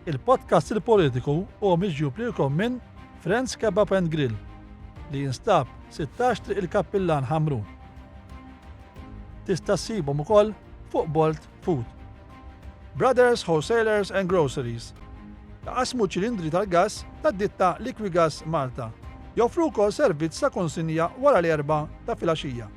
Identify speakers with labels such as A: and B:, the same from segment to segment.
A: Il-podcast Il-Politiku huwa miġjub lilkom minn Frend's Kebab and Grill li jinstab 16 Triq il-Kappillan Ħamrun. Tista' ssibhom ukoll fuq Bolt Food. Brothers Wholesalers and Groceries Qasmu ċilindri tal-gass tad-ditta Liquigas Malta. Joffru wkoll servizz ta' konsinja wara l-erba' ta' filgħaxija.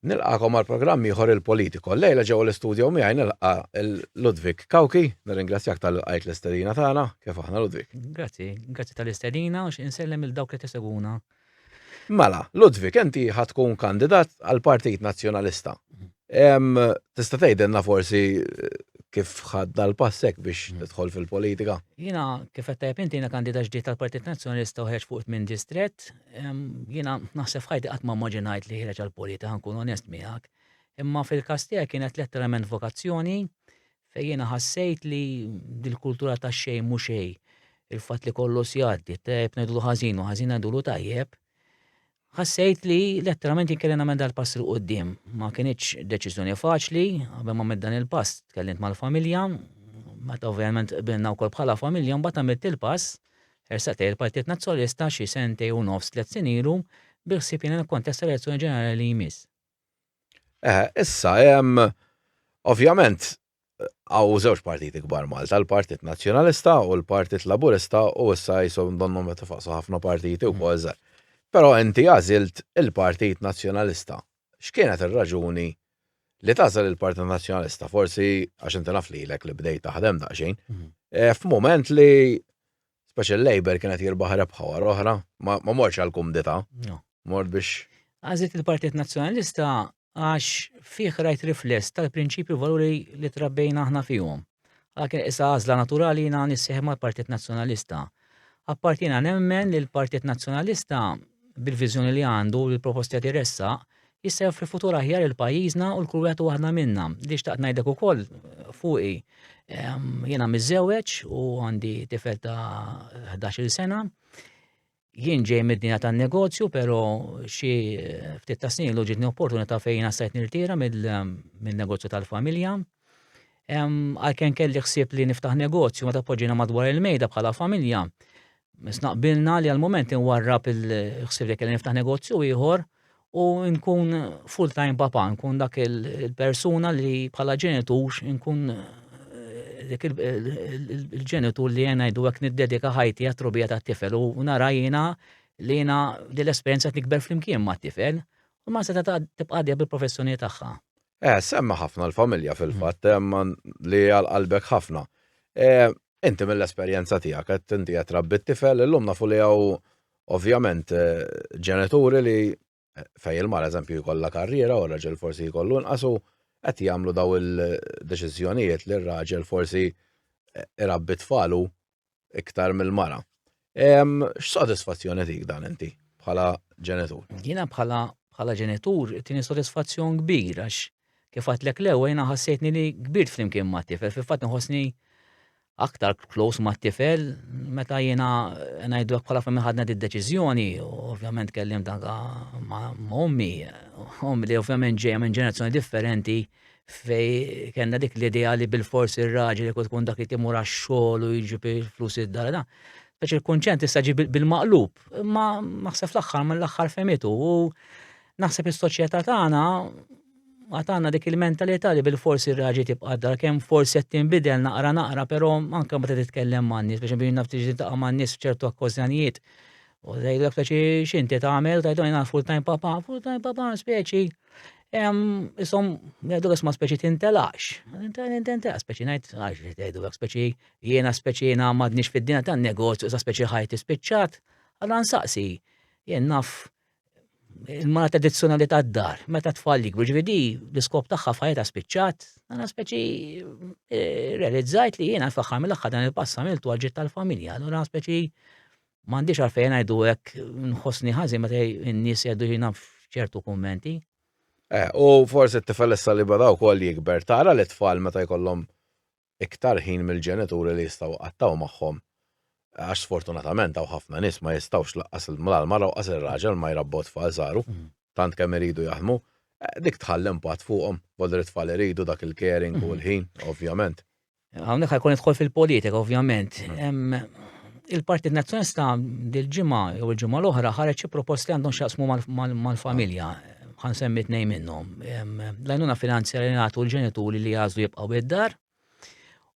B: Nilqagħkom għal programm ieħor il-Politico. Llejla ġewwa l-istudjo miegħi nilqa' Ludwig Cauchi, nirringrazzjak talli lqajt l-istedina tagħna. Kif aħna Ludwig? Grazzi, grazzi
C: tal-istedina u xi insellem lil dawk li qed isegwuna. Mela,
B: Ludwig, inti ħa tkun kandidat għall-Partit Nazzjonalista. Tista' tgħidilna forsi kif ħadd dal-pass hekk biex tidħol fil-politika? Jiena kif qed
C: tajjeb inti jiena kandidat ġdid tal-Partit Nazzjonalista u ħerġt fuq it-tmien distrett, Jiena naħseb f'ħajti qatt ma immaġinajt li ħireġ għall-politika ħankun onest miegħek. Imma fil-każ tiegħek kienet letteralment vokazzjoni fejn jiena ħassejt li dil-kultura ta' xejn mhux xejn il-fatt li kollu sjaddi, tajjeb ngħidlu ħażin u ħażin ngħidulu tajjeb, ħassejt li letteralment jinkellem nagħmel dal-pass il qudiem Ma kienx deċiżjoni faċli, qabel ma dan il-pass tkellimt mal-familja, meta ovvjament qbilna wkoll bħala familja, mbagħad għamilt il-pass Ħersaq lejn il-Partit Nazzjonalista xi sentej u nofs tliet snin ilu bil-ħsieb jgħin għall-kontest tal-elezzjoni ġenerali li jmiss. Eħe,
B: issa hemm ovvjament hawn żewġ partiti kbar Malta, l-Partit Nazzjonalista u l-Partit Laburista u issa qishom donnhom qed ifaqqsu ħafna partiti wkoll żgħar. Però inti għażilt il-Partit Nazzjonalista. X'kienet ir-raġuni li tagħżel il-Partit Nazzjonalista? Forsi għax inti naf lilek li bdejt taħdem daqsxejn. Mhm. Eh, f'mument li speċi l-Labor kienet jirbaħ rebħa wara oħra, ma morx għal kumdita. Mort biex. Għażilt il-Partit
C: Nazzjonalista għax fih rajt rifless tal-prinċipju valuri li trabbejna aħna fihom. Għalkemm qisha għażla naturali jiena nissieħeb mal-Partit Nazzjonalista. Apparti jiena nemmen li l-Partit Nazzjonalista, bil-viżjoni li għandu u l-proposti li qed iressaq, jista' joffri futur aħjar lil pajjiżna u lkull wieħed u waħda minna. Li xtaqt ngħidlek ukoll fuqi, jiena miżżewweġ u għandi tifel ta' ħdax-il sena. Jien ġej mid-dinja tan-negozju, però xi ftit ta' snin ilu ġitni opportunità fejn għassajt nirtira mill-negozju tal-familja. Għalkemm kelli ħsieb li niftaħ negozju meta poġġina madwar il-mejda bħala familja, Snaqbilna li għal-moment inwarrab il-ħsib li kelli niftaħ negozju ieħor u nkun full-time papa, nkun dak il-persuna li bħala ġenitur nkun eh, dik il-ġenitur li jena jdu għek niddedika ħajti għat-trubija ta' tifel u nara jena li jena dil-esperienza tikber fl-imkien ma' tifel u ma' seta ta' tibqadja bil-professjoni tagħha. Eh, semma ħafna
B: l-familja fil-fatt, mm. li għal-qalbek ħafna. Eh, inti mill-esperienza tijak, inti għet rabbi t-tifel, l-lum nafu li għaw Ovvjament, ġenituri li fej il-mara eżempju jkollha karriera u r-raġel forsi jkollu nqasu qed jagħmlu daw il-deċiżjonijiet li r-raġel forsi irabbi tfalu iktar mill-mara. X'sodisfazzjoni dik dan inti bħala ġenitur? Jiena bħala
C: bħala ġenitur tini sodisfazzjon kbir għax Kif għedtlek l-ewwel jiena ħassejtni li kbirt flimkien mat-tifel, fil-fatt inħossni aktar close mat-tifel meta jiena ngħidu hekk bħala fejn ħadna d-deċiżjoni, ovvjament kellim danka ma' ommi, ommi li ovvjament ġejja minn ġenerazzjoni differenti fej kellna dik l-idea li bil-fors ir-raġel jekk tkun dak li timur għax-xogħol u jiġi flus id-dar da. Speċi l-kunċent issa ġi bil-maqlub, ma naħseb fl-aħħar mill-aħħar femitu u Naħseb is-soċjetà tagħna għad għandna dik il-mentalità li bilfors ir-raġi tibqa' d-dar kemm forsi qed tinbidel naqra naqra però anke meta titkellem man-nies biex nbin naf tiġi taqa' man-nies f'ċertu okkożjonijiet. U tgħidlek taċi x'inti tagħmel tgħidhom jiena full time papa, full time papa speċi. Isom, jgħidu isma' speċi tintelaqx. Tintelaqx speċi ngħid għax jgħidu hekk speċi jiena speċi jiena m'għadniex fid-dinja tan-negozju sa speċi ħajti spiċċat. Għadha nsaqsi jien naf il-mala tradizzjonali tad-dar, meta tfal jikbru ġvidi, l-iskop tagħha fajta spiċċat, għana speċi eh, realizzajt li jiena faħħar mill-axħar dan il-passa miltu għalġit tal-familja, għana speċi mandiċ għarfejn għajdu għek nħosni ħazi meta n-nis jaddu jina ċertu kommenti. Eh,
B: u forse t-tifel issa li badaw kol jikber, tara li tfal meta jkollhom iktar ħin mill-ġenituri li jistgħu jqattgħu magħhom għax sfortunatament hawn ħafna nies ma jistgħux lanqas la l-mara u lanqas ir-raġel ma jrabbu t-tfal saru tant kemm iridu jaħdmu, dik tħalli impatt fuqhom, volli t-tfal iridu dak il-caring u l-ħin, ovvjament. Hawnhekk ħajkun
C: nidħol fil-politika, ovvjament. Il-Partit Nazzjonalista dil-ġimgħa jew il-ġimgħa l-oħra ħareġ xi proposti għandhom x'jaqsmu mal-familja. Ħan semmi tnejn minnhom. L-għajnuna finanzjarja li nagħtu l-ġenituri li jagħżlu jibqgħu id-dar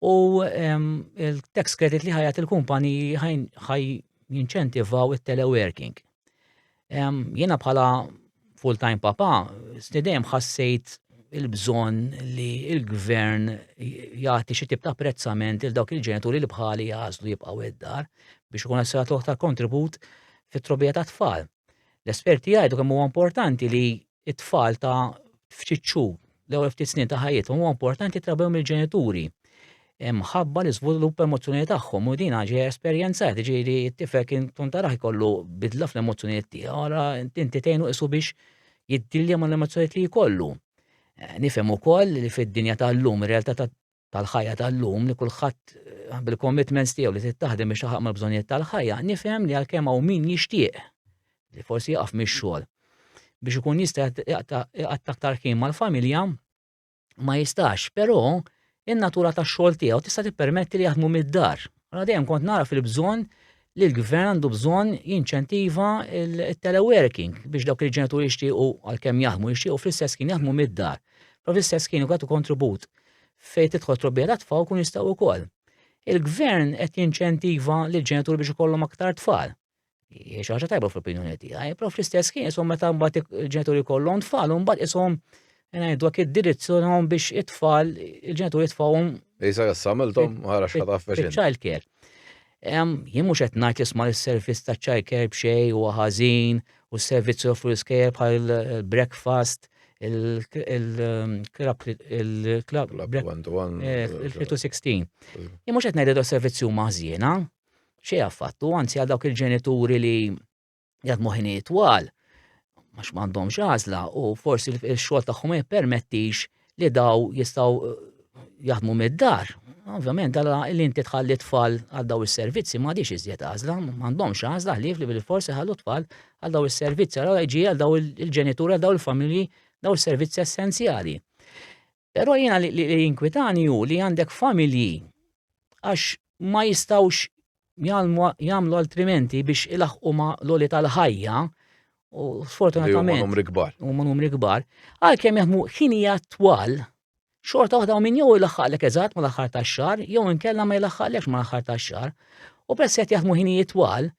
C: u il-tax credit li ħajat il-kumpani ħaj jinċentivaw it-teleworking. Jiena bħala full-time papa, stidem ħassejt il-bżon li il-gvern jagħti xi tip ta' apprezzament il dawk il-ġenituri li bħali jazlu jibqgħu id-dar biex ikun għasra toħta kontribut fit-trobija ta' tfal. L-esperti jgħidu kemm huwa importanti li t-tfal ta' ftit xhur l-ewwel ftit snin ta' ħajjithom huwa importanti trabew mill-ġenituri mħabba l iżvilupp emozzjonali tagħhom u din ġej esperjenzat, ġieli t-tifel kien tkun taraħ ikollu bidla fl-emozzjonijiet tiegħu, ara inti tgħinu isu biex jiddilja mal-emozzjonijiet li jkollu. Eh, nifhem ukoll li fid-dinja tal-lum ir-realtà tal-ħajja tal-lum li kulħadd bil-commitments tiegħu li tittaħdem biex taħaq mal-bżonnijiet tal-ħajja, nifhem li għalkemm hawn min jixtieq li forsi jaqaf mix-xogħol biex ikun jista' jaqta' aktar ħin mal-familja ma jistax, però in-natura tax-xogħol tiegħu tista' tippermetti li jaħdmu mid-dar. Għadem dejjem kont nara fil-bżonn li l-gvern għandu bżonn jinċentiva il-teleworking biex dawk il-ġenituri jixtiequ għalkemm jaħmu jixtiequ fl-istess kien jaħmu mid-dar. Pro fl-istess kien jgħatu kontribut fejn tidħol trobbija ta' tfal kun jistgħu wkoll. Il-gvern qed jinċentiva l ġenituri biex ikollhom aktar tfal. Hija ħaġa tajba fl-opinjoni tiegħi, pro fl-istess kien isom meta mbagħad il-ġenituri kollhom tfal u mbagħad isom Ngħidu għak id-direzzjonhom biex it-tfal, il-ġenituri tfawhom. Isa jassamiltom,
B: ħara xħata f'feċin. Child care.
C: Jien mhux qed ngħid jisma' l-servizz ta' child care b'xej u ħażin u s-servizzi offru l-iskejjer bħal breakfast, il-club il-club il-316. Jien mhux qed ngħid servizzi huma ħżiena, xejn affattu, anzi għal dawk il-ġenituri li jgħad moħini twal, għax m'għandhomx għażla u forsi l-xogħol tagħhom ma jippermettix li daw jistgħu eh, jaħdmu mid-dar. Ovvjament, dalla li inti tħalli tfal għal daw is-servizzi ma għadix iżjed għażla, m'għandhomx għażla ħlief li bil-forsi ħallu tfal għal daw is-servizzi, għal ġi għal daw il-ġenitura, għal daw il-familji, daw is-servizzi essenzjali. Però jiena li jinkwitani hu li għandek familji għax ma jistawx jagħmlu altrimenti biex ilaħqu ma l-oli tal-ħajja u sfortunatament. Huma numri kbar. Huma numri kbar. Għalkemm jaħdmu ħinija twal xorta waħda minn jew ilaħħaqlek eżatt ma l-aħħar tax-xahar jew inkella ma jilaħħaqlekx ma l-aħħar tax-xahar. U peress qed jaħdmu ħinijiet twal,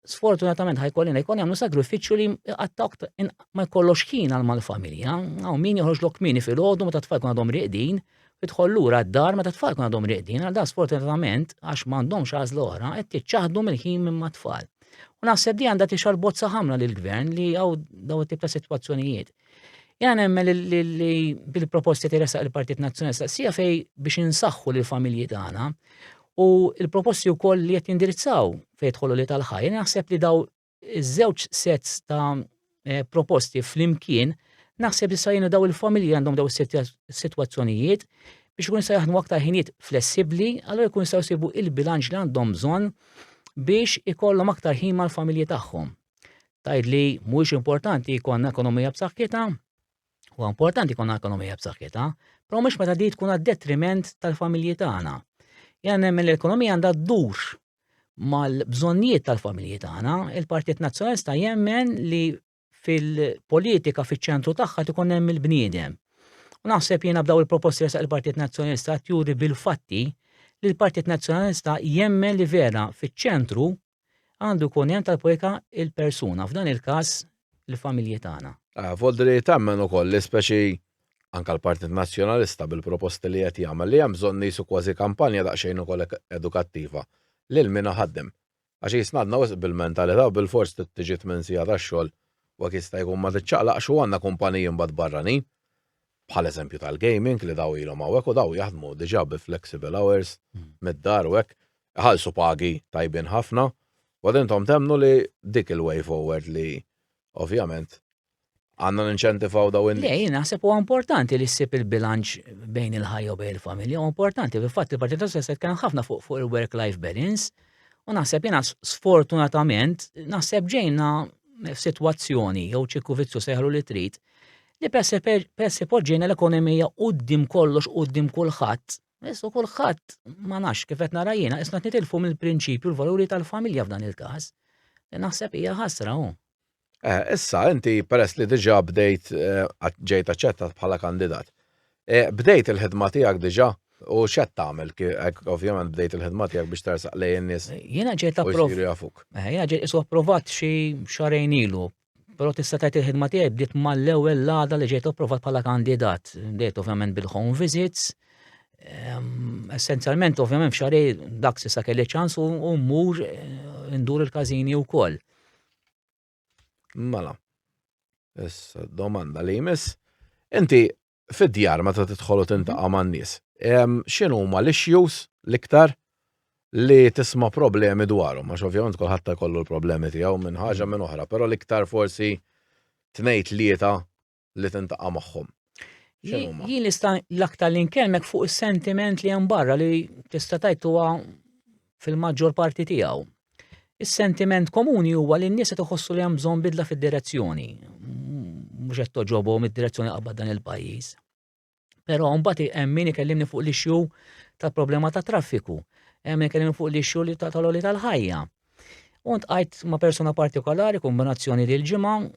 C: sfortunatament ħajkollina jkun jagħmlu sagrifiċċju li għattak ma jkollokx ħin għal mal-familja, għaw min joħroġlok mini fil-ħodu meta tfal kun għadhom riqdin, idħol lura d-dar meta tfal kun għadhom riqdin, għal da sfortunatament għax m'għandhomx għażla oħra qed tiċċaħdu mill-ħin minn mat-tfal. U naħseb di għandha tixar bozza ħamra lill-gvern li għaw daw it-tip ta' sitwazzjonijiet. Jena nemmen li bil-proposti teresa il-Partit Nazzjonali staqsija fej biex insaħħu l familji tagħna u il-proposti wkoll li qed jindirizzaw fejn tħollu li tal-ħajja naħseb li daw iż-żewġ sets ta' eh, proposti flimkien naħseb li sajjenu daw il-familji għandhom daw is-sitwazzjonijiet biex ikun sa jaħdmu aktar ħinijiet flessibbli, allura jkun sa jsibu il-bilanċ li għandhom bżonn biex ikollhom aktar ħin mal-familji tagħhom. Tajd li mhuwiex importanti jkollna ekonomija b'saħħitha, huwa importanti jkollna ekonomija b'saħħitha, però mhux meta di tkun għad-detriment tal-familji tagħna. Jena nemmen l-ekonomija għandha ddur mal-bżonnijiet tal-familji tagħna, il-Partit Nazzjonalista jemmen li fil-politika fiċ-ċentru tagħha tkun hemm il-bniedem. U naħseb jiena b'daw il-proposti li il-Partit Nazzjonalista tjuri bil-fatti li l-Partit Nazzjonalista jemmen li vera fiċ-ċentru Għandu jkun hemm tal-politika il-persuna, f'dan il-każ il-familji tagħna. Vodri temmen
B: ukoll li speċi anke l-Partit Nazzjonalista bil-proposti li qed jagħmel li hemm bżonn qisu kważi kampanja daqsxejn ukoll edukattiva lil min iħaddem. Għax qisna għadna wisq bil-mentalità u bilfors trid tiġi tmien siegħa tax-xogħol u hekk jista' jkun ma tiċċaqlaqx u għandna kumpaniji mbagħad barranin bħal eżempju tal-gaming li daw ilhom hawnhekk u daw jaħdmu diġà bi flexible hours mid-dar u hekk, iħallsu pagi tajbin ħafna, u għad intom temmnu li dik il-way forward li ovvjament għandna ninċentivaw dawn in-nies? Le, jien naħseb huwa importanti
C: li ssib il-bilanċ bejn il-ħajja u bejn il-familja, huwa importanti, fil-fatt il-Partit Nazzjonalista qed jitkellem ħafna fuq fuq il-work-life balance, u naħseb jiena sfortunatament naħseb ġejna f'sitwazzjoni jew ċirku vizzju sejħlu li trid li peress li peress li poġġejna l-ekonomija quddiem kollox quddiem kulħadd, issu kulħadd ma nafx kif qed nara jiena isna nitilfu mill-prinċipju l-valuri tal-familja f'dan il-każ. Li naħseb hija ħasra hu. Eh, issa
B: inti peress li diġà bdejt eh, ġejt aċċettat bħala kandidat. Eh, bdejt il-ħidma tiegħek diġà u x'qed tagħmel ovvjament bdejt il-ħidma tiegħek biex tersaq lejn in-nies. Jiena ġejt approvat. Jiena ġejt isu approvat
C: xi xarejn ilu Però tista' tgħid il-ħidma tiegħi bdiet mal-ewwel l-għada li ġejt approvat bħala kandidat. Bdejt ovvjament bil-home visits. Ehm, essenzjalment ovvjament f'xari dak s'issa kelli ċans u mmur eh, ndur il-każini wkoll.
B: Mela. Issa domanda li jmiss. Inti fid-djar meta tidħol u mhm. tintaqa' man-nies. X'inhu huma l-issues l-iktar li tisma' problemi dwarhom, għax ovvjament kulħadd kollu l-problemi tiegħu minn ħaġa mhm. minn oħra, però l-iktar forsi tnejt lieta li tintaqa' magħhom. Jien
C: nista' l-aktar li nkellmek fuq is-sentiment li hemm barra li tista' tajt huwa fil-maġġor parti tiegħu. Is-sentiment komuni huwa li n-nies qed iħossu li hemm bżonn bidla fid-direzzjoni. Mhux qed toġobhom id-direzzjoni qabad dan il-pajjiż. Però mbagħad hemm min ikellimni fuq l-ixxu tal-problema ta' traffiku, hemm ikellimni fuq l-ixxu li tal-oli tal-ħajja. Unt għajt ma' persuna partikolari, kombinazzjoni li l-ġimgħa,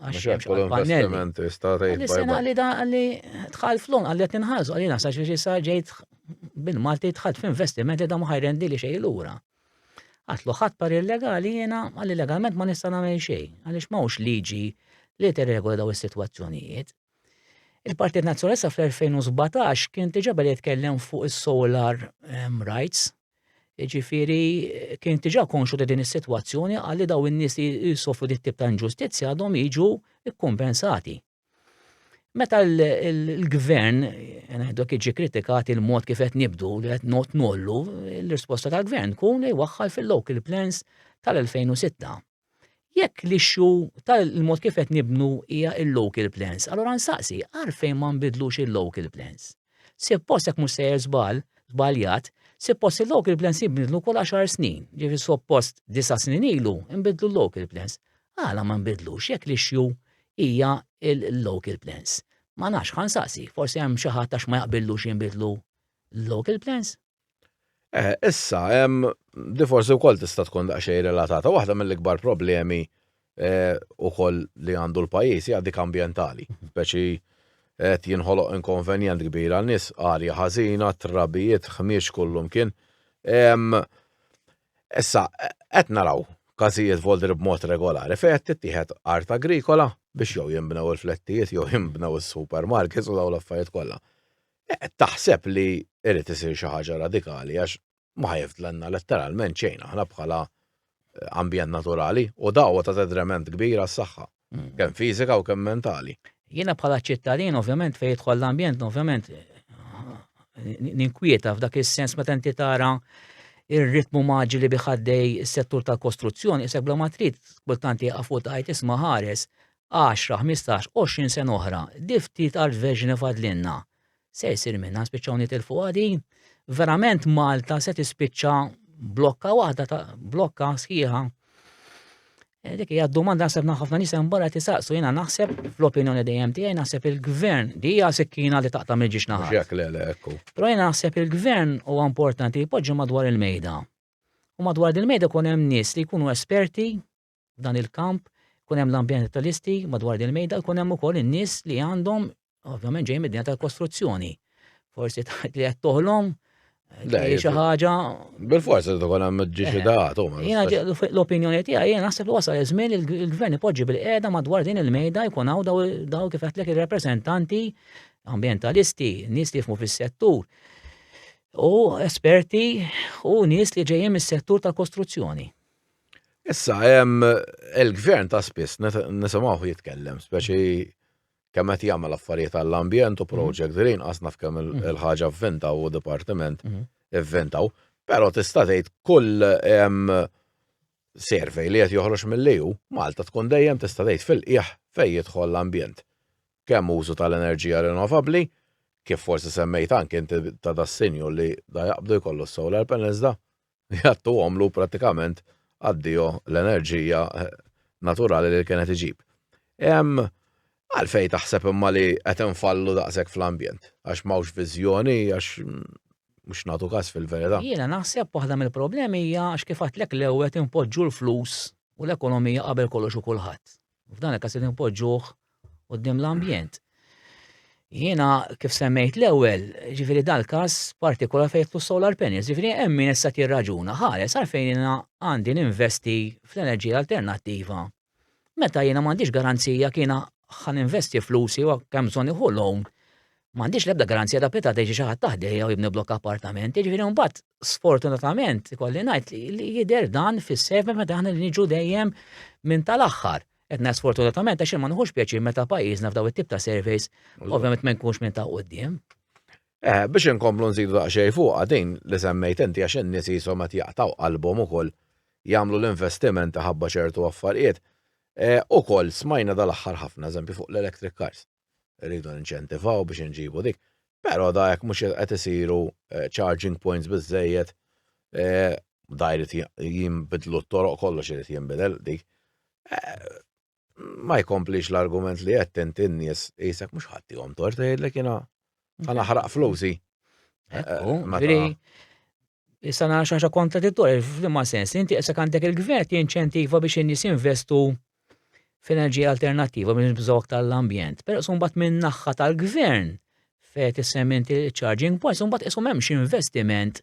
C: Għax hemm xi pannelli.
B: Sena
C: li da li tħal flon għalli qed ninħarsu għalina sa xi sa ġejt bin Malti tħalt f'investiment li da ma ħajrendi li xejn lura. Għatlu ħadd par illegali jiena għalli legalment ma nista' nagħmel xejn għaliex m'hawnx liġi li tirregola daw is-sitwazzjonijiet. Il-Partit Nazzjonalista fl-2017 kien diġà beda jitkellem fuq is-solar ehm, rights Jiġifieri kien diġà konxu ta' din is-sitwazzjoni qal li daw in-nies li jsofru dit tip ta' inġustizzja għadhom jiġu kkumpensati. Meta l-gvern, ngħidu hekk jiġi kritikat il-mod kif qed nibdu li qed not nollu, l-risposta tal-gvern tkun li jwaħħal fil-local plans tal-2006. Jekk l-issue tal-mod kif qed nibnu hija il-local plans, allura nsaqsi għalfejn ma nbidlux il-local plans. Sippost jekk mhux sejjer żball, żbaljat, sippost il-local plans jibdlu kull 10 snin, ġifi suppost disa' snin ilu nbidlu l-local plans. Għala ma nbidlux jekk l-issue hija il-local plans. Ma nafx ħansaqsi, forsi hemm xi ħadd għax ma jaqbillux jinbidlu l-local plans. Eh,
B: issa, hemm di forsi wkoll tista' tkun daqsxejn relatata. Waħda mill-ikbar problemi eh, ukoll li għandu l-pajjiż hija dik ambjentali. Speċi qed jinħoloq inkonvenjent kbir għal nies arja ħażina, trabijiet, ħmiex kullum kien. Em, Issa, qed naraw każijiet voldri b'mod regolari fejn qed tittieħed art agrikola biex jew jinbnew il-flettijiet jew jinbnew is-supermarkets u dawn l-affarijiet kollha. Qed taħseb li irid isir xi ħaġa radikali għax ma ħajfdlenna letteralment xejn aħna bħala eh, ambjent naturali u dawwa ta' tedrement kbir għas-saħħa, mm. kemm fiżika u kemm mentali. Jiena bħala
C: ċittadin ovvjament fejn jidħol l-ambjent ovvjament ninkwieta f'dak is-sens meta inti tara ir-ritmu maġili biħaddej is-settur tal-kostruzzjoni, isek bla matrit kultanti għafu tajt isma ħares 10, 15, 20 sen oħra, di ftit art verġni fadlinna. Se jsir minna spiċċaw nitilfu għadi, verament Malta se tispiċċa blokka waħda ta' blokka sħiħa. Eh, dik hija domanda naħseb ħafna nies hemm barra tisaqsu jiena naħseb fl-opinjoni dejjem tiegħi naħseb il-gvern di hija sikkina li taqta' mill-ġiex naħa. Jekk le le ekku.
B: Però jiena naħseb
C: il-gvern huwa importanti jpoġġi madwar il-mejda. U madwar il-mejda kun hemm nies li jkunu esperti f'dan il-kamp, kun hemm l-ambjentalisti madwar din il-mejda, kun hemm ukoll in-nies li għandhom ovvjament ġej mid-dinja tal-kostruzzjoni. Forsi taħt li qed toħlom eh, xi ħaġa. Bil-forsi
B: tkun hemm ġiex daħat eh,
C: L-opinjoni tiegħi jien naħseb li wasal iż-żmien il-gvern ipoġġi bil-qiegħda madwar din il-mejda jkun hawn daw kif qed ir-rappreżentanti ambientalisti, nies li jifmu fis-settur u esperti u nies li ġejjin mis-settur tal-kostruzzjoni. Issa,
B: il-gvern ta' spiss nisimgħuh jitkellem, speċi kemm qed jagħmel affarijiet għall-ambjent u mhm. project green, qas naf kemm mhm. il-ħaġa vvinta u dipartiment mhm. vvintaw, però tista' tgħid kull survey li qed joħroġ mill-EU, Malta tkun dejjem tista' tgħid fil-qiegħ fejn jidħol l-ambjent. Kemm użu tal-enerġija rinnovabbli, kif forsi semmejt anke inti ta' dassinju li da jaqbdu jkollu s-solar panels da, jgħattu għomlu pratikament għaddijo l-enerġija eh, naturali li kienet iġib. Għalfej taħseb imma li qed infallu daqshekk fl-ambjent, għax m'hawnx viżjoni, għax mm, mhux nagħtu każ fil-verità. Jiena naħseb waħda
C: mill-problemi hija għax kif għatlek l-ewwel inpoġġu l-flus u l-ekonomija qabel kollox u kulħadd. F'dan il-każ li npoġġuh quddiem l-ambjent. Jiena kif semmejt l-ewwel, ġifieri dal-każ partikolar fejn jitlu solar panels, ġifieri hemm min issa tirraġuna ħares għalfejn jiena għandi ninvesti fl-enerġija alternattiva. Meta jiena m'għandix garanzija kiena ħan investi flusi u kemm bżonn iħu loan. M'għandix l-ebda garanzija ta' peta teġi xi ħadd taħdejja u jibni blokk appartamenti, ġifieri mbagħad sfortunatament, kolli najt li jider dan fis-server meta aħna niġu dejjem minn tal-axħar. Etna sfortunatament, għax ma nħux pjaċi meta pajjiżna f'daw it-tip ta' surveys, ovvjament ma nkunx minn ta' qoddim. Eh, biex
B: inkomplu nżidu daqxej fuq għadin li semmejt inti għax n-nies jisom qed jaqtaw qalbhom ukoll jagħmlu l-investiment ħabba ċertu affarijiet. Eh, ukoll smajna dal-aħħar ħafna eżempju fuq l-electric cars. rridu ninċentivaw biex inġibu dik. Però da jekk mhux qed isiru eh, charging points biżejjed, eh, da jrid jinbidlu t-toroq kollox irid jinbidel dik. Eh, ma jkomplix l-argument li qed inti n-nies qisek mhux ħaddihom tort tgħidlek jiena ħanaħraq flusi. Ekku,
C: Issa nara xaġa kontradittorja f'liema sens li inti qisek għandek il-gvern jinċentiva biex in-nies jinvestu f'enerġija alternattiva biex nibżgħu aktar l-ambjent. Però sumbat minn naħħa tal-gvern fejn tissemmi inti charging points, sumbat qishom hemmx investiment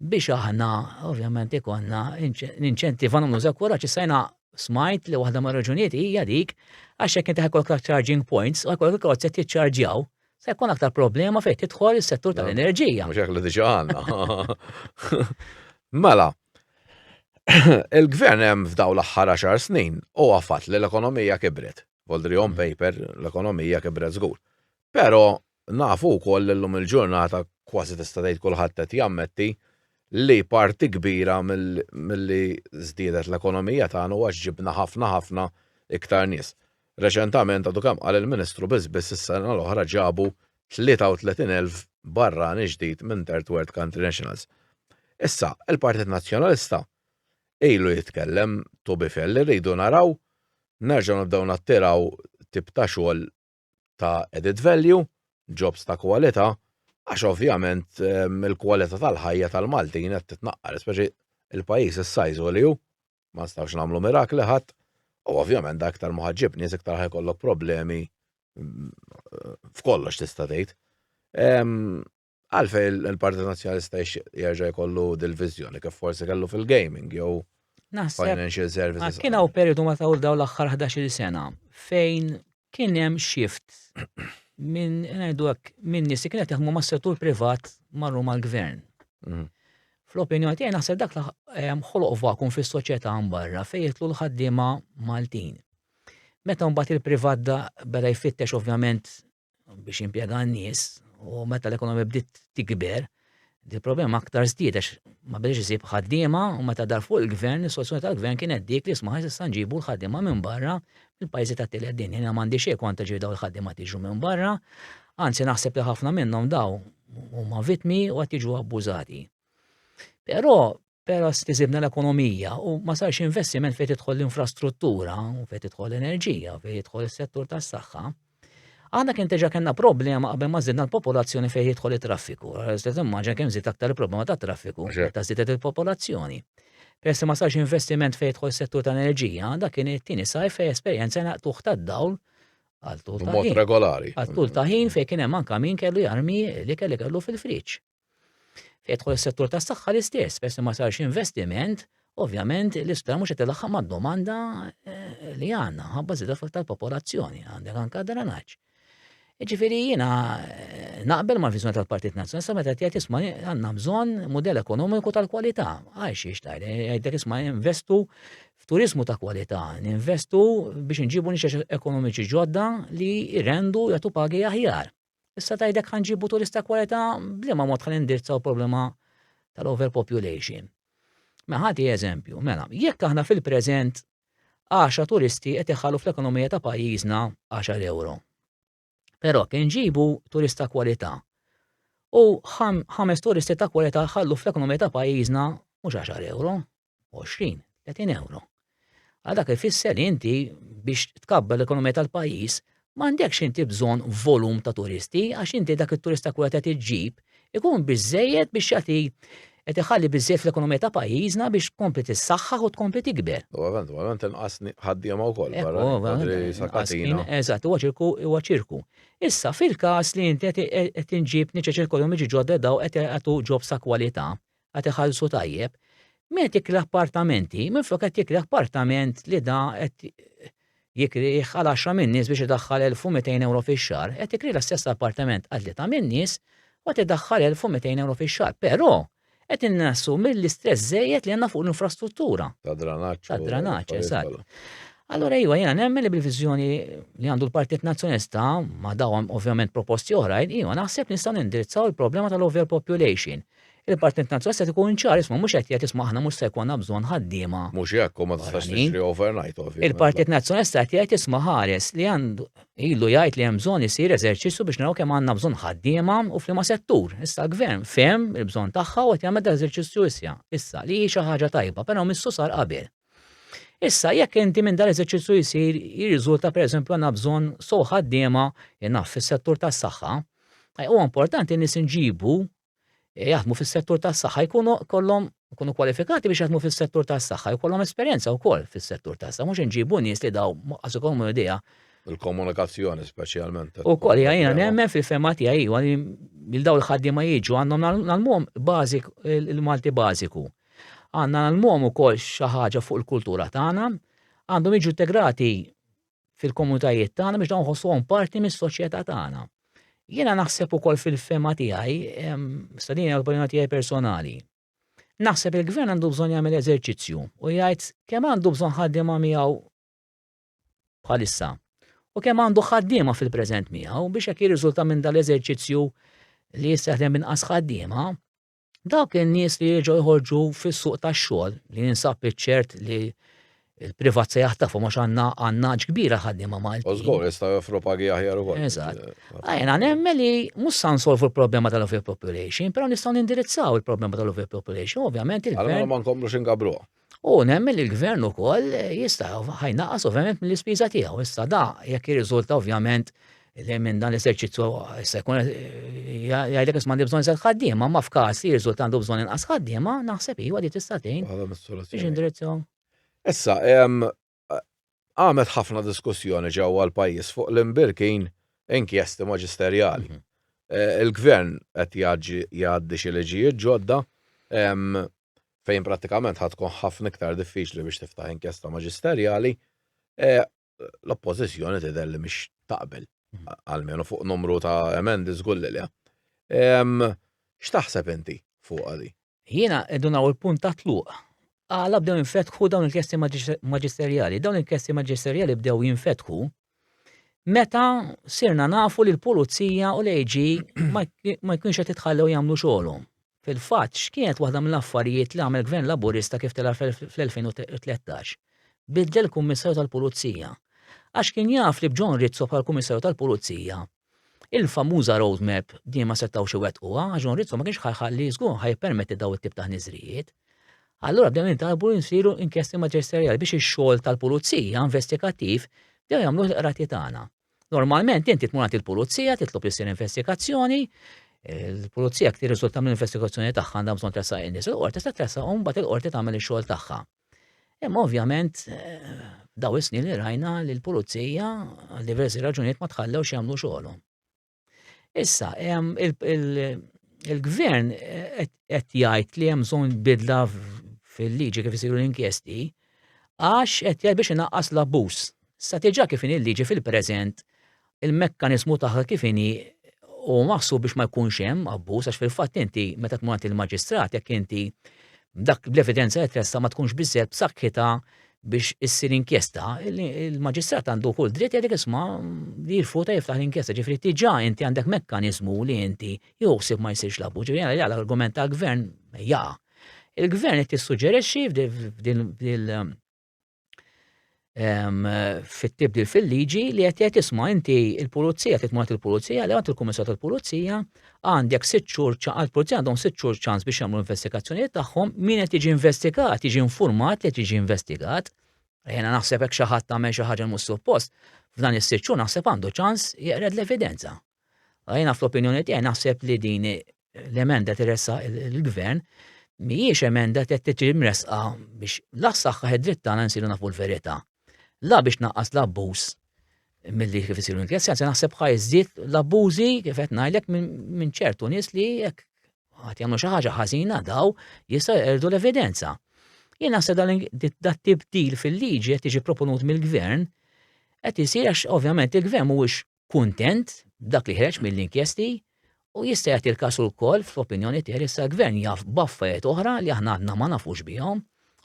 C: biex aħna ovvjament ikonna ninċentiva nagħmlu żekuraġġ issa jiena smajt li waħda mar-raġunijiet hija dik għax hekk inti ħajkollok charging points u ħajkollok il-karozzi tiċċarġjaw Se jkun aktar problema fejn tidħol is-settur tal-enerġija. Mhux hekk li diġà għandna.
B: Mela, il-gvern hemm f'daw l-aħħar għaxar snin u għafat li l-ekonomija kibret. Voldri on mm. paper, l-ekonomija kibret żgur. Però nafu wkoll l-lum il-ġurnata kważi tista' tgħid kulħadd qed jammetti li parti kbira mill-li żdiedet l-ekonomija tagħna għax ġibna ħafna ħafna iktar nies. Reċentament għadu kemm qal il-Ministru biss biss is-sena l-oħra ġabu 33 elf barrani ġdid minn Third World Country Nationals. Issa, il-Partit Nazzjonalista ilu jitkellem to be fair li rridu naraw nerġgħu nibdew nattiraw tip ta' xogħol ta' added value, jobs ta' kwalità, għax ovvjament il-kwalità tal-ħajja tal-Maltin qed titnaqqar, speċi il-pajjiż is-size u li hu. ma nistgħux nagħmlu mirakli ħadd, u ovvjament dak iktar ma ħaġġib nies iktar ħajkollok problemi mm, f'kollox tista' tgħid. Għalfej il-Partit Nazzjonalista jerġa' jkollu dil-viżjoni kif forsi kellu fil-gaming jew financial services. Kien hawn periodu ma tawl
C: daw l-aħħar 11-il sena fejn kien hemm shift minn ngħidu hekk minn nies li kienet jaħdmu mas-settur privat marru mal-gvern. Mhm. Fl-opinjoni tiegħi naħseb dak ħoloq vakum fis-soċjetà mbarra fejn jitlu l-ħaddiema Maltin. Meta mbagħad il-privat da beda jfittex ovvjament biex impjega n-nies u meta l-ekonomija bdiet tikber, Din il-problema aktar żdied għax ma bdejx isib ħaddiema u meta dar fuq il-gvern, is-soluzzjoni tal-gvern kienet dik li smaħ issa nġibu l-ħaddiema minn barra mill-pajjiżi tat-tielet dinja. Jiena m'għandi xejn kontra ġifieri dawn il-ħaddiema tiġu minn barra, anzi naħseb li ħafna minnhom daw huma vittmi u qed jiġu abbużati. Però Però stiżilna l-ekonomija u ma sarx investiment fejn tidħol l-infrastruttura, fejn tidħol l-enerġija, fejn jidħol is-settur tas-saħħa. Aħna kien teġa kellna problema qabel ma żidna l-popolazzjoni fejn jidħol it-traffiku. Stess immaġa kemm żied aktar il-problema ta' traffiku meta żiedet il-popolazzjoni. Peress ma sarx investiment fejn jidħol settur ta' enerġija, dak kien it-tieni saj fejn esperjenza naqtuħ tad-dawl għal tul ta' ħin. regolari. Għal tul ta'
B: ħin fejn
C: kien hemm anke min kellu jarmi li kelli kellu fil-friġġ. Fejn jidħol is-settur tas-saħħa l-istess, peress li ma sarx investiment, ovvjament l-isptar mhux qed ilaħħaq mad-domanda eh, li għandna, ħabba żieda tal-popolazzjoni, għandek anke dranaġġ. Ġifiri jina eh, naqbel ma' viżjoni tal-Partit Nazzjonalista meta tgħid isma' għandna bżonn mudell ekonomiku tal-kwalità. Għax xiex tajr, jgħidlek isma' investu f'turizmu ta' kwalità, ninvestu biex nġibu nixex ekonomiċi ġodda li rendu jagħtu pagi aħjar. Issa tgħidlek ħa nġibu turist ta' kwalità b'liema mod ħa nindirizzaw problema tal-overpopulation. Mela ħati eżempju, mela, jekk aħna fil-preżent 10 turisti qed iħallu fl-ekonomija ta' pajjiżna 10 euro. Però kien ġibu turista kwalità. U ħames turisti ta' kwalità ħallu fl-ekonomija ta' pajjiżna mhux 10 euro, 20, 30 euro. Għal dak ifisser li inti biex tkabba l-ekonomija tal-pajjiż m'għandekx inti bżonn volum ta' turisti għax inti dak it-turista kull qed iġġib ikun biżejjed biex jagħti qed iħalli biżejjed fl-ekonomija ta' pajjiżna biex tkompli tissaħħaħ u tkompli tikber. U għavent, u għavent inqas
B: ħaddiema wkoll barra. Eżatt, huwa ċirku,
C: huwa ċirku. Issa fil-każ li inti qed inġib niċċa ċirkolhom iġi ġodda daw qed jagħtu ġob sa kwalità, qed iħallsu tajjeb, min qed jikri appartamenti minflok qed jikri appartament li da qed jikrih għal għaxra minn nies biex idaħħal 1200 ewro fix-xahar, qed ikri l-istess appartament għal tlieta minn nies u qed idaħħal 1200 ewro fix-xahar. Però qed innassu mill-istress żejjed li għandna fuq l-infrastruttura. Ta' dranaġġ. Ta'
B: dranaġġ, eżatt.
C: Allora iva jiena nemmen li bil-viżjoni li għandu l-Partit Nazzjonista ma dawhom ovvjament proposti oħrajn, iva naħseb nistgħu nindirizzaw il-problema tal-overpopulation. Il-Partit Nazzjonalista qed ikun ċar, isma' mhux qed jgħid isma' aħna mhux se jkollna bżonn ħaddiema. Mhux hekk u ma tistax
B: tixtri overnight ovvjament. Il-Partit Nazzjonalista qed
C: jgħid isma' ħares li għandu ilu jgħid li hemm bżonn isir eżerċizzju biex naraw kemm għandna bżonn ħaddiema u f'liema settur. Issa l-Gvern fehem il-bżonn tagħha u qed jagħmel dak l-eżerċizzju issa, issa li hi xi ħaġa tajba, però missu sar qabel. Issa, jekk inti minn dan eżerċizzju jsir jirriżulta pereżempju għandna bżonn sow ħaddiema jnaf fis-settur tas-saħħa, eh, huwa importanti nies inġibu eh, jaħdmu fis-settur tas-saħħa jkunu kollhom jkunu kwalifikati biex jaħdmu fis-settur tas-saħħa jkollhom esperjenza wkoll fis-settur tas-saħħa mhux inġibu nies li daw qas ikollhom idea il-komunikazzjoni
B: speċjalment. U koll jgħajna nemmen
C: fil-fema tiegħi il-daw l-ħaddiema jiġu għandhom nagħmluhom bażik il-Malti bażiku. Għandna nagħlmuhom ukoll xi ħaġa fuq il-kultura tagħna, għandhom jiġu integrati fil-komunitajiet tagħna biex dawn ħossuhom parti mis-soċjetà tagħna. Jiena naħseb ukoll fil-fema tiegħi, sa din hija tiegħi personali. Naħseb il-gvern għandu bżonn jagħmel eżerċizzju u jgħid kemm għandu bżonn ħaddiema miegħu bħalissa u kemm għandu ħaddiema fil-preżent miegħu biex jekk jirriżulta minn dal-eżerċizzju li jista' jaħdem inqas ħaddiema, Dawk in-nies li jerġgħu jħorġu fis-suq tax-xogħol li jinsab iċ-ċert li l-privat se jaħtafu mhux għandna għandna kbira ħaddiema Maltin. U żgur jistgħu joffru
B: pagi aħjar ukoll. Eżatt. Għajna
C: nemmen li mhux sa nsolvu l-problema tal-overpopulation, però nistgħu nindirizzaw il-problema tal-overpopulation, ovvjament il-gvern. Allora ma nkomplux ingabruha.
B: U nemmen li
C: l-gvern ukoll jista' ħajnaqas ovvjament mill-ispiża tiegħu. Issa da jekk jirriżulta ovvjament li minn dan l-eserċizzju se jkun jgħidlek isma' għandi bżonn żed ħaddiema, ma f'każ li jirriżulta għandu bżonn inqas ħaddiema, naħseb iva li tista' tgħin. Biex indirizzaw. Issa,
B: qamet ħafna diskussjoni ġewwa l-pajjiż fuq l-imbirkin inkjesti maġisterjali. Eh, il-gvern qed jgħaddi xi liġijiet ġodda fejn prattikament ħad tkun ħafna iktar diffiċli biex tiftaħ inkjesta maġisterjali. Eh, l-oppożizzjoni tidher li mhix taqbel mhm. għalmenu fuq numru ta' emendi żgur li X'taħseb inti fuq għadi? Jiena edun hawn
C: il-punt ta' tluq. Għala bdew jinfetħu dawn il-kesti maġisterjali. Dawn il-kesti maġisterjali bdew jinfetħu meta sirna nafu li l-pulizija u l-AG ma jkunx qed itħallew jagħmlu xogħolhom. Fil-fatt, x'kienet waħda mill-affarijiet li għamel gvern Laburista kif tela' fl-2013? Biddel kummissarju tal-pulizija. Għax kien jaf li b'John Rizzo bħal kummissarju tal-pulizija Il-famuża road map din ma setgħux iwettquha għax Don Rizzo ma kienx ħa jħalli żgur ħa jippermetti dawn it-tip ta' ħniżrijiet. Allura bdew jintalbu jsiru inkjesti maġisterjali biex ix-xogħol tal-pulizija investigattiv bdew jagħmluh il-qrati tagħna. Normalment inti tmur għand il-pulizija titlob li ssir investigazzjoni, il-pulizija jekk tirriżulta mill-investigazzjoni tagħha għandha bżonn tressaq in-nies il-qorti se tressaqhom mbagħad il-qorti tagħmel ix-xogħol tagħha. Imma ovvjament daw is-snin li rajna li l-pulizija għal diversi raġunijiet ma tħallew x'jagħmlu xogħolhom. Issa il-gvern qed jgħid li hemm bżonn bidla fil-liġi kif isiru l-inkjesti għax qed jgħid biex inaqqas l-abbuż. Sa tiġa kif in il-liġi fil-preżent il-mekkaniżmu tagħha kif inhi huwa maħsub biex ma jkunx hemm abbuż għax fil-fatt inti meta tmur għand il-maġistrat jekk inti dak bl-evidenza li tressa ma tkunx biżżejjed b'saħħitha biex issir inkjesta, il-maġistrat għandu kull dritt jgħidek isma' li jirfuta jiftaħ l-inkjesta, ġifri tiġa inti għandek mekkanizmu li inti jħossib ma jsirx labu, ġifri għal l-argument tal-gvern jaqa. Il-gvern qed tissuġġerixxi f'dil fit-tibdil fil-liġi li qed jgħid isma' inti l-pulizija qed tmur il-pulizija li għand il-kummissar tal-pulizija għandek sitt xhur ċaqal pulizija għandhom sitt xhur ċans biex jagħmlu investigazzjonijiet tagħhom min qed jiġi investigat, jiġi informat li qed jiġi investigat. Jiena naħseb hekk xi ħadd tagħmel xi ħaġa mhux suppost, f'dan is-sitt xhur naħseb għandu ċans jeqred l-evidenza. Jiena fl-opinjoni tiegħi naħseb li din l-emenda tirressa il-gvern mhijiex emenda qed tiġi mresqa biex la saħħa id-dritt tagħna nsiru nafu l-verità. La biex naqqas l-abbuż milli kif isiru l-inkjestjoni, se naħseb ħajżid l-abbużi kif qed ngħidlek minn ċertu nies li jekk ħadd jagħmlu xi ħaġa ħażina daw jista' jerdu l-evidenza. Jien naħseb dat tibdil fil-liġi qed tiġi proponut mill-gvern qed isir għax ovvjament il-gvern mhuwiex kuntent b'dak li ħreġ mill-inkjesti u jista' jagħti l-każ ukoll fl-opinjoni tiegħi li s-gvern jaf b'affarijiet oħra li aħna għadna ma nafux bihom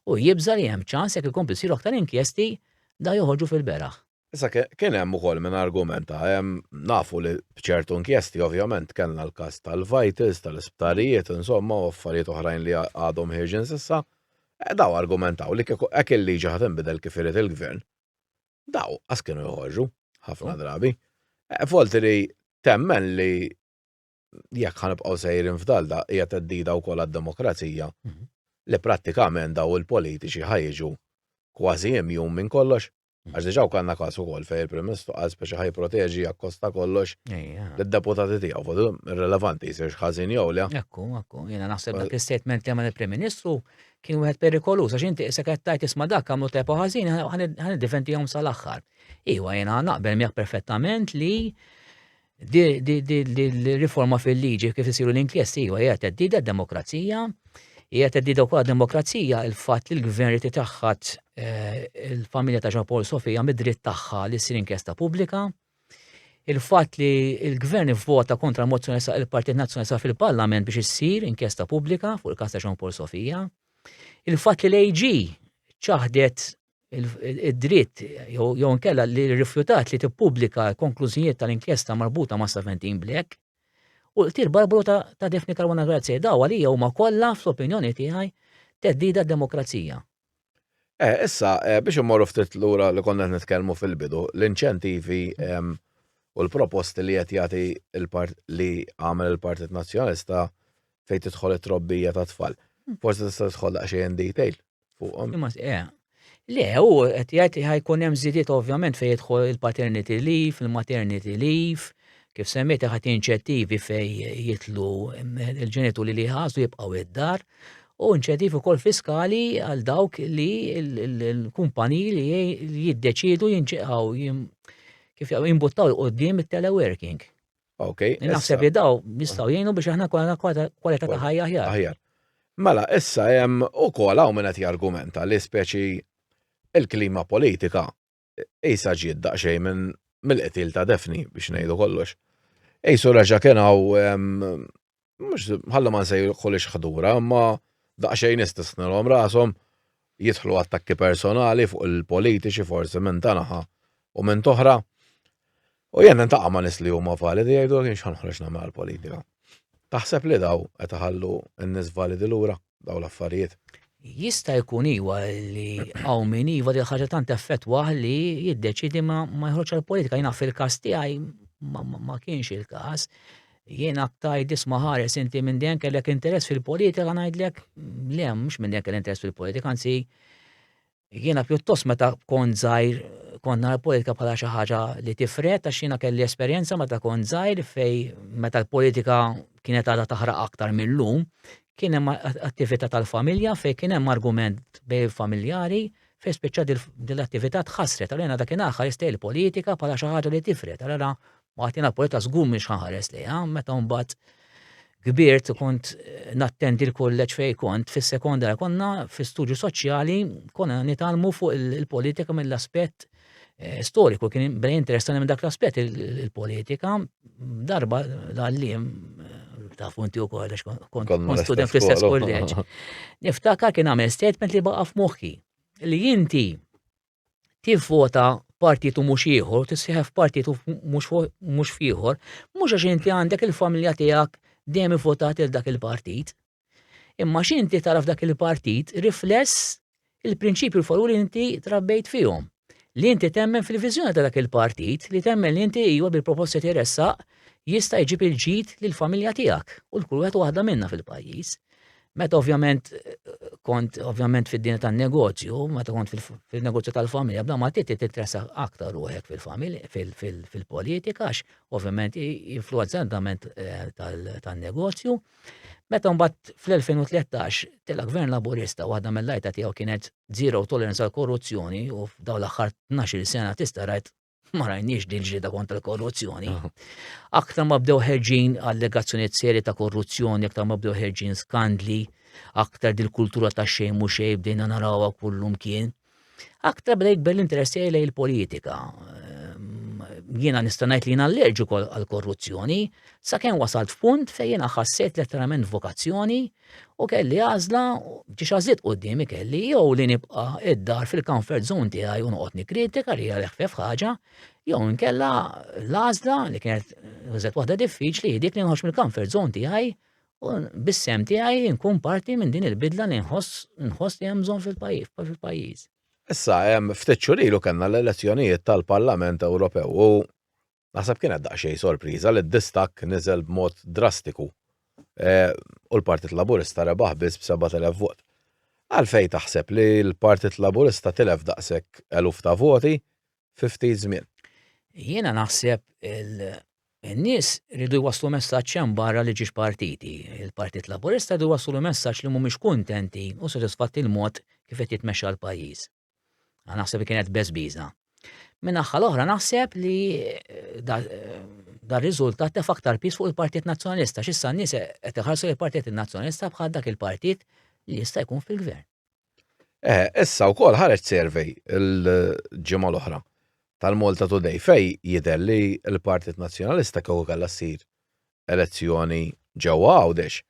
C: u jibża' li hemm ċans jekk ikomplu jsiru aktar inkjesti dawn joħorġu fil-beraħ. Issa kien
B: hemm ukoll min argumenta, nafu li b'ċertu inkjesti ovvjament kellna l-każ tal-vitals, tal-isptarijiet, insomma u affarijiet oħrajn li għadhom ħierġin s'issa, dawn argumentaw li kieku hekk il-liġi ħa tinbidel kif irid il-gvern, daw qas kienu joħorġu ħafna oh. drabi. Eh, Volti li temmen li jekk ħanibqgħu sejrin f'dal da hija teddida wkoll għad-demokrazija mhm. li prattikament daw il-politiċi ħajġu kważi imjum minn kollox. Mhm. Għax diġaw kanna kasu kol fej il primistru għaz biex ħaj proteġi jakkosta kollox l-deputati tijaw, fudu relevanti jisir xħazin jow li. Ekku, ekku, jena
C: naħseb dak il-statement li għamil il-Prim Ministru kien wieħed perikoluż għax inti issa qed tgħid isma' dak għamlu tajb u ħażin ħaniddefendihom sal-aħħar. Iwa jiena naqbel miegħek perfettament li di riforma fil-liġi kif isiru l-inkjesti iwa hija teddida d-demokrazija, hija teddida wkoll demokrazija il-fatt li l-gvern li taħħat eh, il-familja ta' Jean Paul Sofija mid-dritt tagħha li ssir inkjesta pubblika. il-fatt li l-gvern vvota kontra l-mozzjoni sa' il-Partit Nazzjonalista fil-Parlament biex issir inkjesta pubblika fuq il-kas ta' Jean Paul Sofia, il-fatt li l-AG ċaħdet id-dritt jew nkella li rifjutat li tippubblika konklużijiet tal-inkjesta marbuta ma' Saventin Black u l-qtil barbaru ta', ta Defni Karwana Grazie daw għalija huma kollha fl-opinjoni tiegħi teddida d-demokrazija. Eh,
B: issa, eh, biex immorru ftit lura li konna qed nitkellmu fil-bidu, l-inċentivi ehm, u l-proposti li qed jagħti l-part li għamel il-Partit Nazzjonalista fejn tidħol it-trobbija ta' tfal. Hmm. Forsi tista' tidħol daqsxejn detail fuqhom. Imma eh,
C: Le, u qed jgħid ħajkun hemm żidiet ovvjament fejn jidħol il-paternity leave, il-maternity leave, Kif semmejt ħadd inċettivi fejn jitlu l-ġenituri li jħassu jibqgħu id-dar u inċettivi wkoll fiskali għal dawk li l-kumpaniji li jiddeċidu jinċeqaw kif jimbuttaw il-qoddim il-teleworking. Ok.
B: Naħseb li daw
C: nistgħu jgħinu biex aħna kollha kwalità ta' ħajja aħjar. Aħjar. Mela, issa
B: hemm ukoll hawn minn qed jargumenta li speċi il-klima politika Isa ġiet daqsxejn minn mill-qtil ta' Defni biex ngħidu kollox. Ejsu reġa' kien hawn mhux ħallu ma nsejħulix ħdura, imma daqsxejn istisnilhom rashom jidħlu attakki personali fuq il-politiċi forsi minn ta' naħa u minn toħra. U jien nintaqa' ma' nies li huma validi jgħidu jien x'ħa noħroġ nagħmel għall-politika. Taħseb li daw qed iħallu n-nies validi lura daw l-affarijiet? Jista' jkun
C: iva li hawn min iva li ħaġa tant effettwah li jiddeċidi ma jħroġ għall-politika. Jiena fil-każ tiegħi ma kienx il-każ. Jien aktar disma ħares inti minn dejjem kellek interess fil-politika ngħidlek le mhux minn dejjem kellek interess fil-politika, anzi Jiena pjuttost meta kont żgħir kont nara politika bħala xi ħaġa li tifret għax jiena kelli esperjenza meta kont żgħir fej meta l-politika kienet għadha taħraq aktar mill-lum kien hemm attività tal-familja fejn kien hemm argument bej familjari fejn spiċċa din l-attività tħassret għalina dak kien aħħar jistgħi l-politika bħala xi ħaġa li tifret għalina Martina Poletta żgur mhix ħares lejha, meta mbagħad kbirt kont eh, nattendi l-kolleġġ fej kont fis-sekonda konna fi studju soċjali konna nitalmu fuq il-politika mill-aspett eh, storiku kien brej interessani minn dak l-aspett il-politika darba l-għallim eh, ta' funti u kollex kont student fl-istess kolleġ. Niftakar kien għamel statement li baqa' f'moħħi li inti tivvota f'partit u mhux ieħor u tissieħeb f'partit u mhux f'ieħor, mhux għax inti għandek il-familja tiegħek dejjem ivvotat il dak il-partit. Imma x'inti tara f'dak il-partit rifless il-prinċipju l li inti trabbejt fihom. Li inti temmen fil-viżjoni ta' dak il-partit, li temmen li inti iwa bil-proposti tirressaq jista' jġib il-ġid lill-familja tiegħek u l-kull wieħed waħda minna fil-pajjiż. Meta ovvjament kont ovvjament fid-dinja tan-negozju, meta kont fil-negozju tal-familja, bla ma titi titresa aktar ruħek fil-familja, fil-politika, għax ovvjament influenza għandament eh, tan-negozju. Meta mbagħad fl-2013 tela gvern laburista waħda mill-lajta tiegħu kienet zero tolerance għal korruzzjoni u f'dawn l-aħħar 12 sena tista' rajt ma rajniex din ġrida kontra l-korruzzjoni. Aktar ma bdew ħerġin allegazzjoniet seri ta' korruzzjoni, aktar ma bdew ħerġin skandli, aktar dil-kultura ta' xejn mhux xejn bdejna narawha kullum kien. Aktar bdej jikber l-interess tiegħi lejn il-politika. Ehm, jiena nista' ngħid li jiena allerġiku għall-korruzzjoni, sakemm wasalt f'punt fejn jiena ħassejt letteralment vokazzjoni U kelli għażla, ġiex għażliet qudiemi kelli jew li nibqa' id-dar fil-comfort zone tiegħi u noqgħod nikkritika li għal ħfef ħaġa, jew nkella l-għażla li kienet użet waħda diffiċli dik li nħoss mill-comfort zone tiegħi u bissem tiegħi nkun parti minn din il-bidla li nħoss nħoss li hemm bżonn fil-pajjiż. Issa,
B: ftit xurilu kellna l-elezzjonijiet tal-Parlament Ewropew u Naħseb kienet daqsxejn sorpriża li d-distakk niżel b'mod drastiku u l-Partit Laburista rebaħ biss b'sebgħat elef vot. Għalfejn taħseb li l-Partit Laburista tilef daqshekk eluf ta' voti fi ftit żmien? Jiena
C: naħseb in-nies ridu jwasslu messaġġ hemm barra li ġiex partiti. Il-Partit Laburista ridu jwasslu messaġġ li mhumiex kuntenti u sodisfatti l-mod kif qed jitmexxa l-pajjiż. Għan naħseb li kienet bezbiza. Minn aħħa l-oħra naħseb li eh, eh, dar riżultat tef aktar pis fuq il-Partit Nazzjonalista, xissa n-nies qed iħarsu il-Partit Nazzjonalista bħal dak il-partit li jista' jkun fil-gvern. Eh,
B: issa wkoll ħareġ survey il-ġimgħa l-oħra tal-Malta Today fej jidher li l-Partit Nazzjonalista kew kellha ssir elezzjoni ġewwa Għawdex,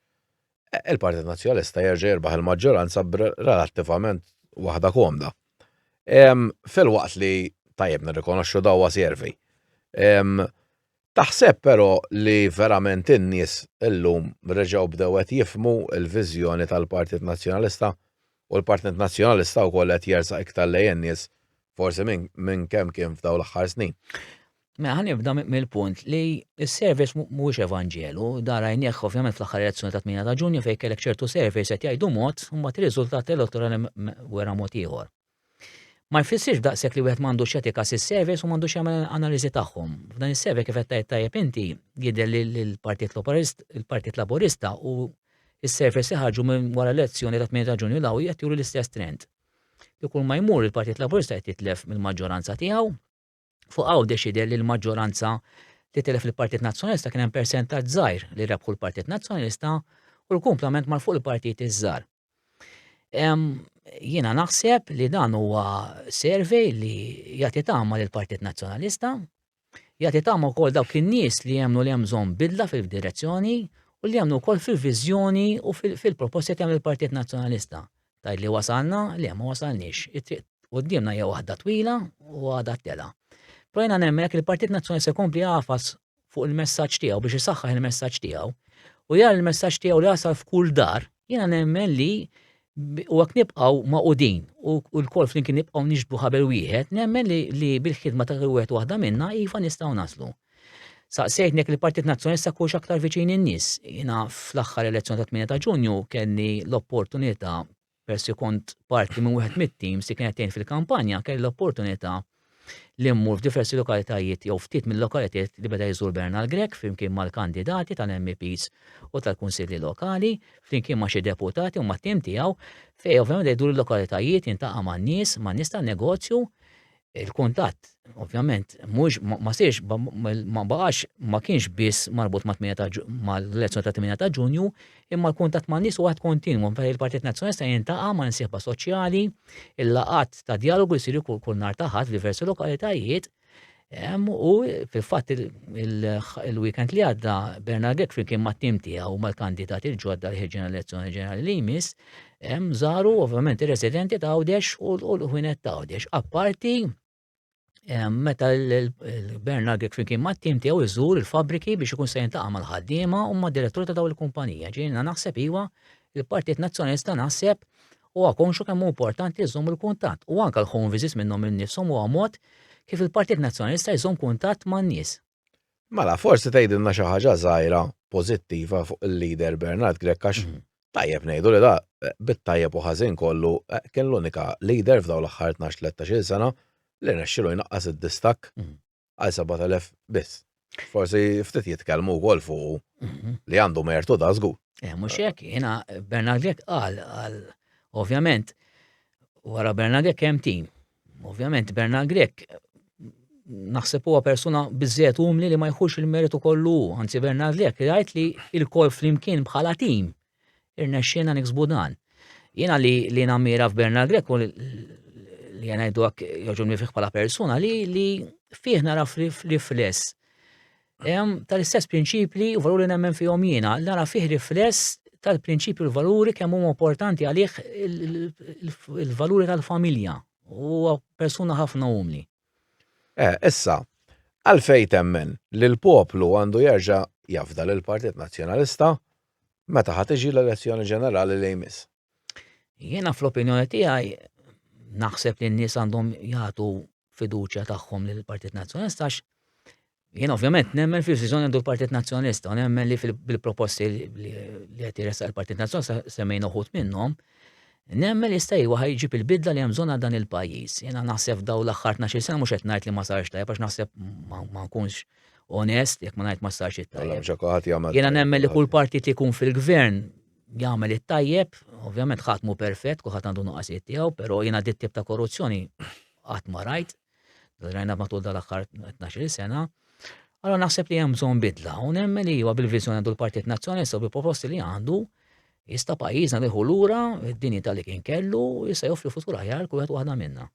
B: il-Partit Nazzjonalista jerġa' jirbaħ il-maġġoranza relattivament waħda komda. Filwaqt li tajjeb nirrikonoxxu dawwa servi. Taħseb però li verament in-nies illum reġgħu bdew qed jifhmu l-viżjoni tal-Partit Nazzjonalista u l-Partit Nazzjonalista wkoll qed jersaq iktar lejn in-nies forsi minn kemm kien f'dawn l-aħħar snin? Mela ħan
C: nibda mill-punt li s-surveys mhuwiex evanġelu, da rajnieh ovvjament fl-aħħar elezzjoni ta' 8 ta' Ġunju fejn kellek ċertu surveys qed jgħidu mod u mbagħad ir-riżultat elettorali wera mod ieħor. Ma jfissirx daqshekk li wieħed m'għandux etika sis-surveys u m'għandux jagħmel analiżi tagħhom. F'dan is-survey kif qed tajt tajjeb inti jidher li l-Partit Laburist, il-Partit Laburista u s-surveys li ħarġu minn wara l-elezzjoni ta' 8 ta' Ġunju daw qed juru l-istess trend. Li kull ma jmur il-Partit Laburista qed jitlef mill-maġġoranza tiegħu Fuq hawn deċide li l-maġġoranza li telef il-Partit Nazzjonalista kien hemm persentaġġ żgħir li rebħu l-Partit Nazzjonalista u l-kumplament mar fuq il-partit iż-żgħar. Jiena naħseb li dan huwa survey li jagħti tama lill partit Nazzjonalista, jagħti tama wkoll dawk in-nies li jemnu li hemm bżonn bidla fil-direzzjoni u li jemnu wkoll fil-viżjoni u fil-proposti kemm il-Partit Nazzjonalista. Tgħid li wasalna, le ma wasalniex. It-triq quddiemna hija waħda twila u għadha tela. Però jiena nemmen jekk il-Partit Nazzjonali se jkompli jagħfas fuq il-messaġġ tiegħu biex isaħħaħ il-messaġġ tiegħu u jara l-messaġġ tiegħu li jasal f'kull dar, jiena nemmen li u għak nibqaw maqudin u l-kol flimkien nibqaw nixbu ħabel wieħed, nemmen li, li bil-ħidma ta' wieħed waħda minna iva nistgħu naslu. Saqsejtni jekk il-Partit Nazzjonalista kux aktar viċin in-nies. Jiena fl-aħħar elezzjoni ta' 8 ta' Ġunju kelli l-opportunità persi kont parti minn wieħed mit-teams li kienet tgħin fil-kampanja, kelli l-opportunità li mmur f'diversi lokalitajiet jew ftit mill-lokalitajiet li beda jżur Bernal Grek flimkien mal-kandidati tal-MPs u tal-kunsilli lokali, flimkien ma' xi deputati u mat-tim tiegħu, fejn ovvjament jdur il-lokalitajiet jintaqa' man-nies, man-nies tan-negozju, il-kuntatt ovvjament mhux ma sirx ma baqax ma kienx biss marbut mal-elezzjoni ta' 8 ta' Ġunju, imma l-kuntatt ma' nies waħed kontinwu fejn il-Partit Nazzjonalista jintaqa' ma' nsieħba soċjali, il-laqat ta' dialogu jsiru kull nhar ta' ħadd f'diversi lokalitajiet, u fil-fatt il-weekend li għadda Bernard Gekfri kien mat-tim tiegħu mal-kandidati l-ġodda li ħeġġen elezzjoni ġenerali li jmiss, Hemm żaru ovvjament ir-residenti ta' Għawdex u l-ħwienet ta' Għawdex. Apparti meta l-Gvern Agrik flimkien ma' tim tiegħu jżur il-fabriki biex ikun se jintaqa' mal-ħaddiema u ma' direttur ta' daw il-kumpanija. Ġiena naħseb iva il-Partit Nazzjonista naħseb u għakonxu kemm importanti jżomm il-kuntatt u anke l-home visits minnhom innifshom huwa mod kif il-Partit Nazzjonista jżomm kuntatt man-nies. Mela,
B: forsi tgħidilna xi ħaġa żgħira pożittiva fuq il-leader Bernard Grek għax mhm. tajjeb ngħidu li da bit-tajjeb u ħażin kollu eh, kien l-unika leader f'daw l-aħħar 12-13 sena li nexxilu jnaqqas id-distak mhm. għal 7000 biss. Forsi ftit jitkellmu wkoll fuq mhm. li għandu mertu da żgur. Eh, mhux hekk, jiena
C: Bernard Grek qal għal ovvjament wara Bernard Grek hemm tim Ovvjament Bernard Grek naħseb huwa persuna biżżejjed umli li ma jħux il-meritu kollu, anzi Bernard Grek jgħid li il-kol flimkien bħala tim irnexxiena niksbu dan. Jiena li li nammira f'Bernard Grek u li jgħidu għak joġobni fih bħala persuna li li fih naraf rifless tal-istess prinċipli u valuri nemmen fihom jiena, nara fih rifless tal-prinċipju l-valuri kemm huma importanti għalih il-valuri tal-familja u persuna ħafna umli. Eh,
B: issa, għalfej temmen li l-poplu għandu jerġa' jafda l partit Nazzjonalista meta ħat iġi l-elezzjoni ġenerali li jmiss. Jiena
C: fl-opinjoni tiegħi naħseb li n-nies għandhom jagħtu fiduċja tagħhom lil partit Nazzjonalista għax jien ovvjament nemmen fil-viżjoni għandu l-Partit Nazzjonalista u nemmen li fil-proposti li qed jressaq il-Partit Nazzjonalista semmejn uħud minnhom Nemmen li jista' jwa ħajġib il-bidla li hemm bżonn dan il-pajjiż. Jiena naħseb daw l-aħħar 12 sena mhux qed ngħid li ma sarx tajjeb għax naħseb ma nkunx onest jekk ma ngħid ma sarx it-tajjeb. Jiena nemmen li kull partit ikun fil-gvern jagħmel it-tajjeb, ovvjament ħadd mhu perfett, kulħadd għandu nuqqasijiet tiegħu, però jiena dit tip ta' korruzzjoni qatt ma rajt, rajna matul dal-aħħar 12 sena. Allora naħseb li hemm bżonn bidla u nemmen li huwa bil-viżjoni għandu l-Partit Nazzjonalista u bil-proposti li għandu jista' pajjiżna nieħu lura id-dinji tal-li kien kellu jista' joffri futur aħjar kull wieħed waħda minna.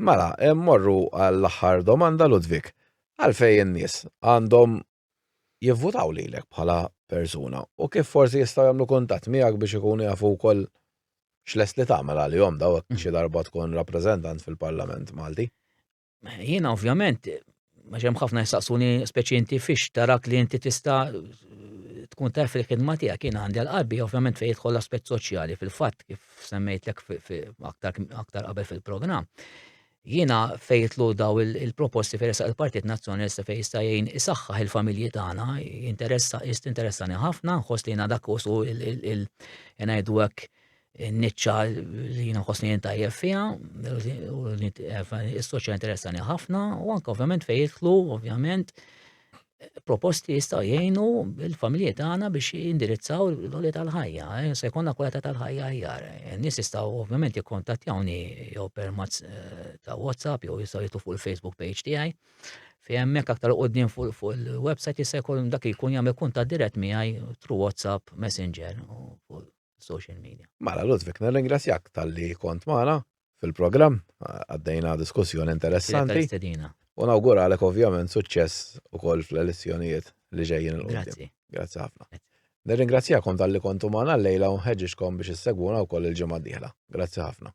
C: Mela,
B: morru għall-aħħar domanda Ludwig. Għalfejn in-nies għandhom jivvutaw lilek bħala persuna u kif forsi jistgħu jagħmlu kuntatt miegħek biex ikunu jafu wkoll x'lest li tagħmel għalihom daw hekk mm. xi darba tkun rappreżentant fil-Parlament Malti? Jiena
C: ovvjament għax hemm ħafna jistaqsuni speċi inti fiex tarak li inti tista' tkun taf il-ħidma tiegħek kien għandi għal-qalbi ovvjament fejn jidħol l-aspett soċjali fil-fatt kif semmejtlek aktar qabel fil-programm. Jiena fejn jitlu daw il-proposti fejn resaq il-Partit Nazzjonalista fejn jista' jgħin isaħħaħ il-familji tagħna, jinteressa is tinteressani ħafna, nħoss li jiena dak usu il ngħidu hekk niċċa li jiena nħossni jien tajjeb fiha, is-soċja interessani ħafna, u anke ovvjament fejn jitlu, ovvjament, proposti jistgħu jgħinu l-familji tagħna biex jindirizzaw l-għoli tal-ħajja, eh, se jkollna kwalità tal-ħajja aħjar. Eh, nies jistgħu ovvjament jikkontattjawni jew permazz eh, ta' WhatsApp jew jistgħu jitlu fuq il-Facebook page tiegħi. Fi hemmhekk aktar qudiem fuq il-website jista' jkun dak jkun jagħmel kuntatt dirett miegħi tru WhatsApp, Messenger u fuq social media. Mela Ludwig, nirringrazzjak
B: tal-li kont magħna fil-programm, għaddejna diskussjoni interessanti. U nawguralek ovvjament suċċess ukoll fl-elezzjonijiet li ġejjin il Grazzi. Grazzi ħafna. Nirringrazzjakom tal-li kontu magħna l-lejla u nħeġġixkom biex issegwuna wkoll il-ġimgħa d-dieħla. Grazzi ħafna.